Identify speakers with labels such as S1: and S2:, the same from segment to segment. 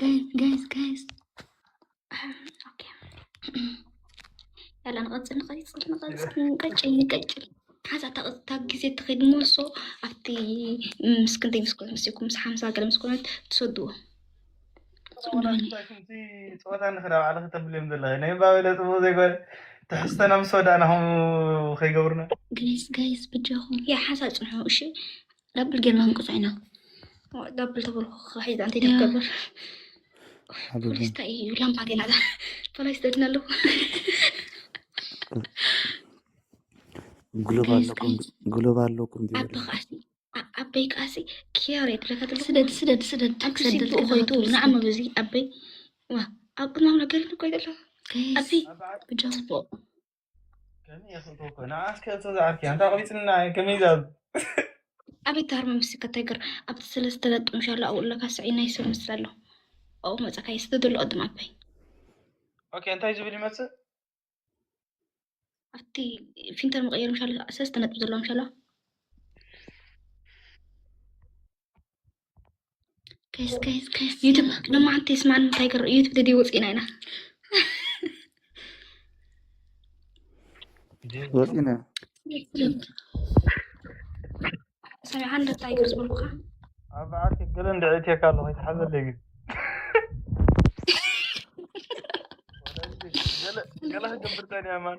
S1: ጋይዝ ጋይዝ ጋይዝ
S2: ኦኬ ያላ ንቐፅል ንቐፅል ንቐፅል ንቀጭል ንቀጭል ሓዛ እታ ግዜ እትኸይድ ሞሶ ኣብቲ ምስ ክንደይ ምስ ኮነ ምስ ምስ ሓምሳ ገለ ምስ ኮነት ትሰድዎ
S3: ፀወታ ንክዳ ባዕለ ክተብልዮም ዘለኸ ናይ ባበለ ፅቡቅ ዘይኮነ ትሕዝተና ምስ ወዳእና ከምኡ ከይገብሩና ጋይዝ ጋይዝ
S1: ብጀኹም ያ ሓሳ ፅንሑ እሺ
S2: ዳብል ጌርና
S1: ክንቅፆ ኢና ዳብል
S2: ተበልኩ ክሒዛ እንታይ ደገብር ፖሊስ እንታይ እዩ ላምባ ገና ፖሊስ ደድና ኣለዎ
S4: ግሎብ ኣለኩም
S2: ኣበይ ከዓሲ ክያር የድለካትሎ ስደድ ስደድ ስደድ
S1: ክስደድ ኮይኑ
S2: ንዓመ በዚ ኣበይ ዋ ኣብ ቅድማም ነገር ኮይደሎ ኣበይ ብጃ ፅቡቅ ኣቤት ታርሚ ምስከ ተግር ኣብቲ ስለ ዝተለጥምሻሎ ኣብኡ ኣለካ ስዒ ናይ ሰብ ምስ ዘሎ ኣብኡ መፀካ የስተ ዘሎ ቅድም ኣባይ ኦኬ
S3: እንታይ ዝብል ይመፅእ
S2: ኣብቲ ፊንተር መቀየር ምሻሎ ሰለስተ ነጥቢ ዘለዎ ምሻሎ
S1: ከይስ ከይስ ከይስ ዩቱብ ድማ
S2: ሓንቲ ስማን እንታይ ገር ዩቱብ ደዲ ወፂና ኢና
S4: ወፂና ሰብ ሓንደ እንታይ ገር
S2: ዝበልኩካ ኣብ በዓልቲ
S3: ገለ እንድዕእትየካ ኣሎ ከይትሓዘለይ ግን ገለ ገለ ክገብር ፀኒያ ማን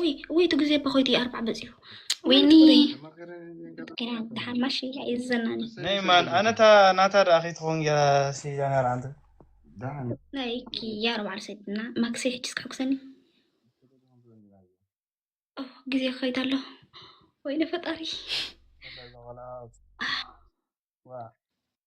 S2: ውይ
S1: ውይ ትግዜ
S2: እባ ኮይዲ
S1: ኣርባዕ በፂሑ
S2: ወይኒ ገና ደሓን ማሽ እያ የዘናኒ ናይ ማን ኣነታ
S3: ናታ ደኣ ከይትኸውን ገራ ሲዳ ነራ ኣንተ ናይ
S2: ክያ ኣርባዕ ሰድና ማክሰ ሕጅስ ክሕጉሰኒ ኦ ግዜ ክኸይድ ኣሎ ወይነ ፈጣሪ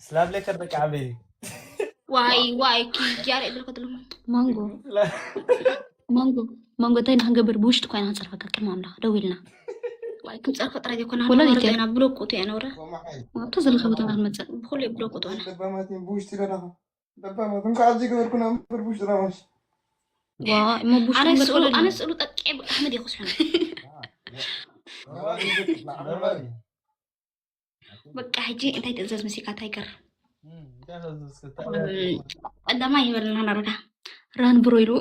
S3: ስላብ ለይ ከበቂ ዓበይ ዋይ
S2: ዋይ ኪያር እብል ከትሉ ማንጎ
S1: ማንጎ ማንጎ እንታይ ንክንገብር ብውሽጢ ኮይና ክንፀርፈካ ቅድሚ ኣምላኽ ደው ኢልና ዋይ
S2: ክንፀርፈ ጥራይ ዘይኮና ወለና ብሎቁቱ
S1: እያ ነውረ
S2: ኣብቶ ዘለካ
S1: ቦታ ክንመፅእ ብኩሉ ብሎቁቱ ነ
S2: ብውሽጢ
S3: ደለካ ደባማት እንኳ ኣብዚ ገበርኩና ምበር ብውሽጢ
S1: ዳማሽ ኣነ ስእሉ ጠቄ
S2: ኣሕመድ ይክስሑ በቃ ሕጂ እንታይ ትእዘዝ መሲካ እንታይ ገር ቀዳማ ይበልና ናረጋ ራን ብሮ ኢሉ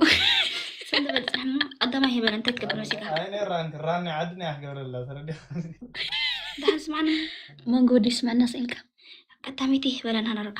S1: ስለበፅሕና
S2: ቀዳማ ይበል እንታይ ትገብር መሲካ ራን
S3: ዓድና ያክገብረላ ተረዲ
S2: ዳሃን ስማዕና መንጎ ዲስ
S1: መናስ ኢልካ ቀዳመይቲ
S2: ይበለና ናረጋ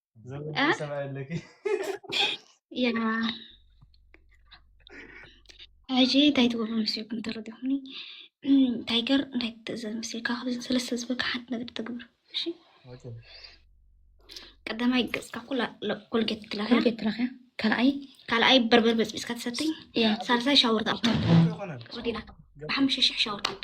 S2: ሕጂ እንታይ ትገብሩ መስልኩም ተረዲኹኒ ታይገር እንታይ ትእዘዝ መስልካ ካብዚ ሰለስተ ዝበልካ ሓንቲ ነገር ተግብር እሺ ቀዳማይ ገፅካ ኩላ ኮልጌት ትለኽያ ትለኽያ ካልኣይ ካልኣይ በርበር በፅቢፅካ ትሰትይ ሳልሳይ ሻወር ትኣቱ ብሓሙሽተ ሽሕ ሻወር ትኣቱ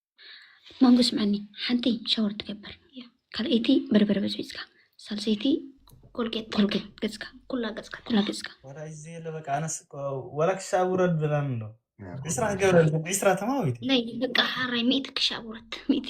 S1: ማንጎ ስምዐኒ ሓንቲ ሻወር ትገብር ካልኣይቲ በርበረ በፅቢፅካ ሳልሰይቲ ኮልጌት
S2: ኮልጌት ገፅካ ኩላ
S1: ገፅካ
S2: ተላገፅካ ወላ ክሻብ
S3: ውረድ ብላን ኣሎ ዕስራ ክገብረ ዕስራ ተማዊት ናይ በቃ ሓራይ
S2: ሚእቲ ክሻብ ውረድ ሚእቲ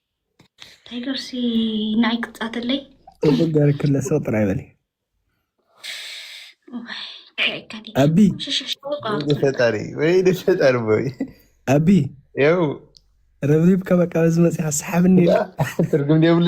S2: ታይገር ሲ ናይ ቅጻትለይ ጋር ክለ
S3: ሰው ጥራይ በል ኣቢ
S5: ፈጣሪ ወይ ፈጣሪ ቦይ ኣቢ
S3: ያው
S5: ረብሪብካ
S3: በቃ በዚ መፅኻ ሰሓብኒ ትርጉም የብሉ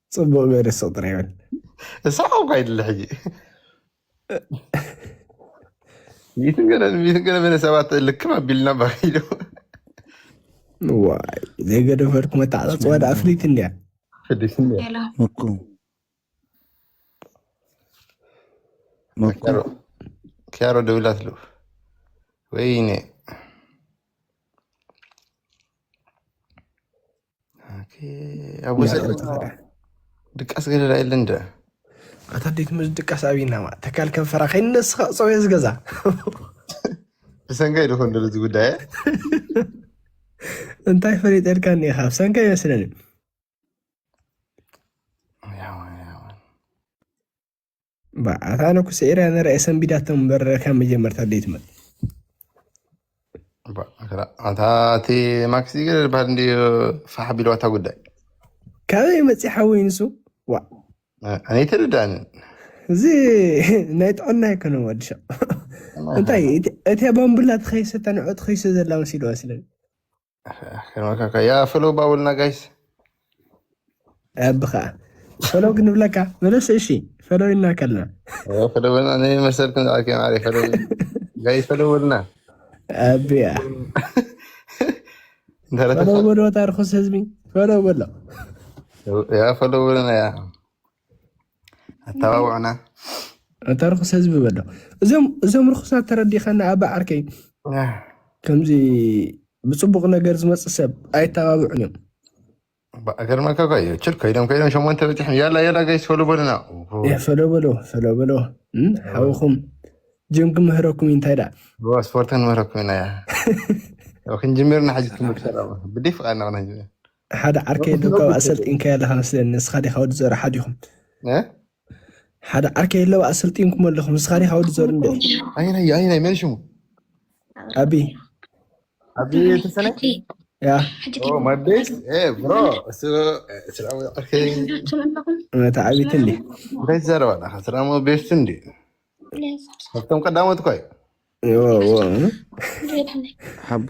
S3: ፅቡቅ ገይረ ስቅ ጥራይ በል እሳቅ እኳ
S5: ይድለ ሕጂ ሚትን ገለ ሚትን ገለ በለ ሰባት ልክም ኣቢልና ባኪዶ
S3: ዋይ ዘይገደፈርኩ መተዓፃፅዋ ዳ ፍሊት እንድያ ፍዲት እንድያ ሄሎ
S5: መኩ
S2: መኩ
S4: ኪያሮ
S5: ደውላት ሉ ወይኔ ኣብ ወሰደ ድቃስ ገደዳ የለ እንደ ኣታ ዴት
S3: ምስ ድቃስ ኣብይናማ ተካል ከንፈራ ከይነስኻ ፀውየ ዝገዛ
S5: ብሰንከይ ድኾን ደሉ እዚ ጉዳይ
S3: እንታይ ፈሊጠልካ እኒኻ ኣብ ሰንከ ይመስለኒ በኣታ ነኩ ስዒራ ነርኣየ ሰንቢዳቶም እምበር ካብ መጀመርታ ደይትመል
S5: ኣታ እቲ ማክስ ይገደድ ባህል እንዲ ፋሕ ቢልዋ እታ ጉዳይ ካበይ
S3: መፂ ሓወይ ንሱ ዋ ኣነ
S5: ይተረዳእንን እዚ
S3: ናይ ጥዕና ይኮነ ወድሻ እንታይ እቲ ባምቡላ ትኸይሰ ተንዖ ትኸይሰ ዘላ መሲሉ መስለኒ
S5: ከመካካ ያ ፈሎ ባውልና ጋይስ ኣቢ
S3: ከዓ ፈሎ ክንብለካ መለሰ እሺ ፈሎ ኢልና ከልና ፈሎ በልና
S5: ናይ መሰል ክንዛዓልከ ማዕረ ፈሎ ጋይ ፈሎ በልና
S3: ኣቢያ ፈሎ በሎ ታርኩስ ህዝቢ ፈሎ በሎ
S5: ያ ፈሎ በልና ያ ኣተባብዑና ኣታ ርኹስ
S3: ህዝቢ በሎ እዞም እዞም ርኹሳት ተረዲኸና ኣባ ዓርከይ ከምዚ ብፅቡቕ ነገር ዝመፅእ ሰብ ኣይተባብዑን እዮም
S5: ገርመካ እኳ እዩ ችል ኮይዶም ኮይዶም ሸሞንተ በፂሖም ያላ ያላ ጋይስ ፈሎ በሉና እ፣ ፈሎ በሎ
S3: ፈሎ በሎ እም፣ ሓውኹም ጅም ክምህረኩም እዩ እንታይ ደኣ ብዋ ስፖርትን
S5: ምህረኩም ኢና እያ ያው ክንጅምርና ሕጂ ትምህርቲ ብደይ ፍቓድና ክነጅምር ሓደ ዓርከይ
S3: ኣሎ ካብ ኣሰልጢንካዮ ኣለካ መስለኒ ንስካ ዲካ ወዲ ዘሩ ሓድ ኢኹም እ? ሓደ ዓርከይ ኣለዋ ኣሰልጢንኩም ኣለኹም ንስካ ዲካ ወዲ ዘሩ እንድዒ ኣየናይ እዩ? ኣየናይ መን
S5: ሽሙ ኣቢ
S3: ኣቢ
S5: ተሰነይ ሕጂ ያ
S3: ሕጂ ኦ ማይ
S5: ቤስ እ ብሮ እሱ ስራሙ ዓርከይ ትብሉትም ኣለኹም እታ
S3: ዓብይቲ እንዲ እንታይ ትዛረብ ኣለካ
S5: ስራሙ ቤስ እንዲ ካብቶም ቀዳሞት እኳ እዩ እዎ እዎ እ?
S4: ሓቦ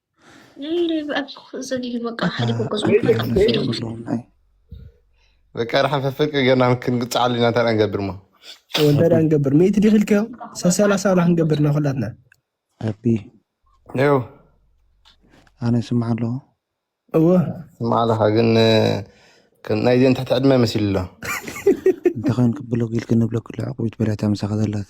S5: በቃ ርሓን ፈፍቅ ገና ክንግፅዓሉ ኢና እንታይ ንገብር ሞ እንታይ ንገብር
S3: ሚእቲ ዲኺ ኢልካዮ ሰሰላሳ ብላ ክንገብር ኢና ኩላትና ኣቢ
S4: ው ኣነ ስምዓ ኣለዎ እወ
S5: ስምዓ ኣለካ ግን ናይ ዘን ትሕቲ ዕድመ መሲሉ ኣሎ እንተኸን
S4: ክብሎ ግል ክንብሎ ክልዕቁ ይትበላታ ምሳኻ ዘላት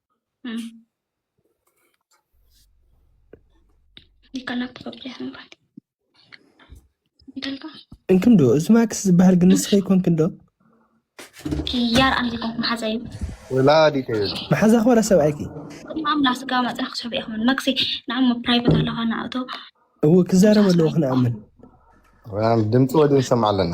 S2: እንክንዶ እዚ
S3: ማክስ ዝበሃል ግን ንስኸ ይኮንክን ዶ ያር ኣነ ዘይኮንኩ
S2: መሓዛ እዩ ወላዲት
S5: መሓዛ ክበረ ሰብኣይኪ
S3: ማምላ ስጋ
S2: መፅና ክስሕቡ ኢኹምን መክሲ ንዓሞ
S3: ፕራይቬት ኣለኻ ንኣቶ እው ክዛረብ ኣለዎ ክንኣምን
S5: ድምፂ ወዲን ሰምዓ ኣለና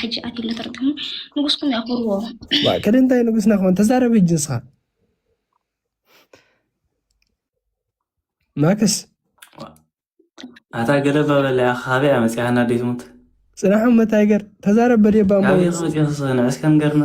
S3: ሕጂ
S2: ኣቲ ለተርጥሙ ንጉስኩም ያኹርዎ ማእከል እንታይ
S3: ንጉስና ክኾን ተዛረብ ሕጂ ንስኻ ማክስ
S6: ኣታ ገለባ በለያ ካበይ ኣመፅያና ደይ ትሙት ፅናሖም መታይገር
S3: ተዛረብ በደባ ንዕስካ
S6: ንገርና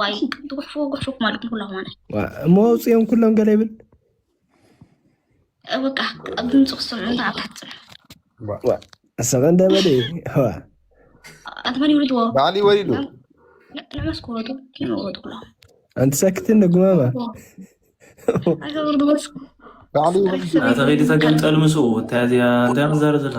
S2: ዋይ ትጉሕፉ ጉሕፉ ማለኩም ኩላ ማና እሞ ኣውፅኦም ኩሎም ገለ
S3: ይብል
S2: በቃ ኣብ ድምፂ
S3: ክሰምዑ እንተ ኣብ ታሕቲ ፅንሑ ሰቐ እንደበለ ኣትመን
S2: ይውልድዎ ባዕሊ ወሪዱ ንዕመስ ክወጡ ክወጡ ኩሎም ኣንቲ ሰክትን
S3: ንጉማማ
S2: ኣይወርድዎስ ባዕሊ ወሪዱ
S6: ኣተኸይዲ ተገምጠል ምስኡ እንታይ እዚኣ እንታይ ክዛረብ ዘለካ